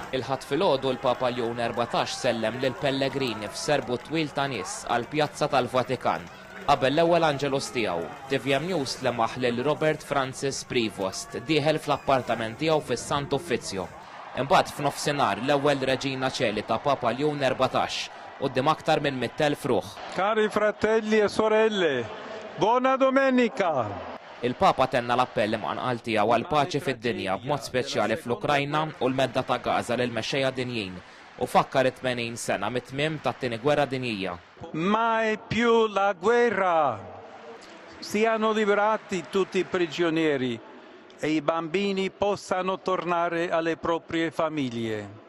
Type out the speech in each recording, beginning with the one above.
Il-Ħadd filgħodu l-Papa Leon Erbatax sellem lill-pellegrini f'serbut twil ta' nies għall-pjazza tal-Vatikan qabel l-ewwel Angelus tiegħu. Tvm News lemaħ lil Robert Francis Prevost dieħel fl-appartament tiegħu fis-Sant Uffizzju. Imbagħad f'nofsinhar l-ewwel Regina Coeli ta' Papa Leon Erbatax quddiem aktar minn mitt elf ruħ. Cari fratelli e sorelle, Bona Domenica! Il-Papa tenna l-appell imqanqal tiegħu għall-paċi fid-dinja, b'mod speċjali fl-Ukrajna u l-Medda ta' Gaza lill-mexxejja dinjin, u fakkar it-tmenin sena mit-tmiem tat-Tieni Gwerra Dinjija. Mai più la guerra! Siano liberati tutti i prigionieri e i bambini possano tornare alle proprie famiglie.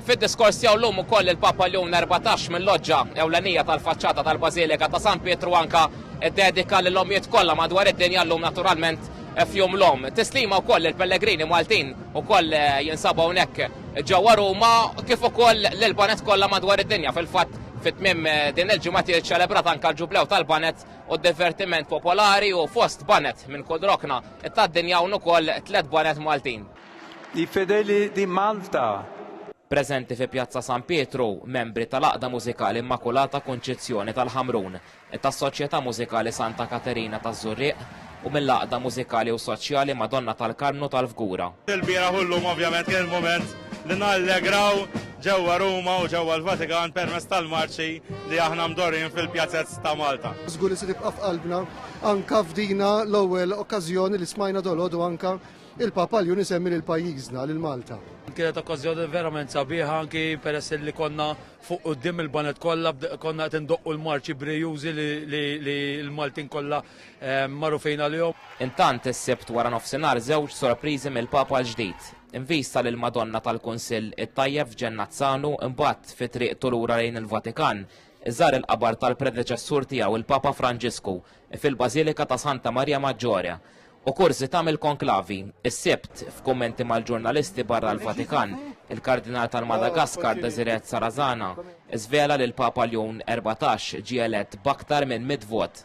Fid-diskors tiegħu llum ukoll il-Papa Leon Erbatax mil-loġġa ewlenija tal-faċċata tal-Bażilika ta' San Pietru anke ddedika lill-ommijiet kollha madwar id-dinja llum naturalment f'Jum l-Omm. Tislima wkoll lill-pellegrini Maltin ukoll jinsabu hawnhekk ġewwa Ruma kif ukoll lill-baned kollha madwar id-dinja. Fil-fatt fi tmiem din il-ġimgħa tiġi ċċelebrat anke l-Ġublew tal-Baned u d-Divertiment Popolari u fost baned minn kull rokna tad-dinja hawn ukoll tliet baned Maltin. I fedeli di Malta. Preżenti fi Pjazza San Pietru, membri tal-Għaqda Mużikali Immakulata Kunċizzjoni tal-Ħamrun, tas-Soċjetà Mużikali Santa Katerina taż-Żurrieq u mill-Għaqda Mużikali u Soċjali Madonna tal-Karmnu tal-Fgura. Il-bieraħ u llum ovvjament kien il-mument li nallegraw ġewwa Ruma u ġewwa l-Vatikan permezz tal-marċi li aħna mdorrijin fil-pjazez ta' Malta. Żgur li se tibqa' f'qalbna anke f'dina l-ewwel okkażjoni li smajna dolodu anke Il-Papa Ljun isemmi lil pajjiżna, lil Malta. Kienet okkażjoni verament sabiħa anki peress li konna fuq quddiem il-baned kollha konna qed indoqqu l-marċi brijużi li l-Maltin kollha ehm, magħrufin għalihom. Intant is-Sibt wara nofsinhar żewġ sorpriżi mill-Papa l-ġdid. Invista lil Madonna tal-Kunsill it-Tajjeb f'Ġennazzanu imbagħad fi triqtu lura lejn il-Vatikan iżar il-qabar tal-predeċessur tiegħu il-Papa Franġisku fil-Bażilika ta' Santa Marja Maġġore u kurżità mill-konklavi. Is-Sibt, f'kummenti mal-ġurnalisti barra l-Vatikan, il-Kardinal tal-Madagaskar Desiret Sarazana żvela li l-Papa Ljun 14 ġie elett b'aktar minn mitt vot.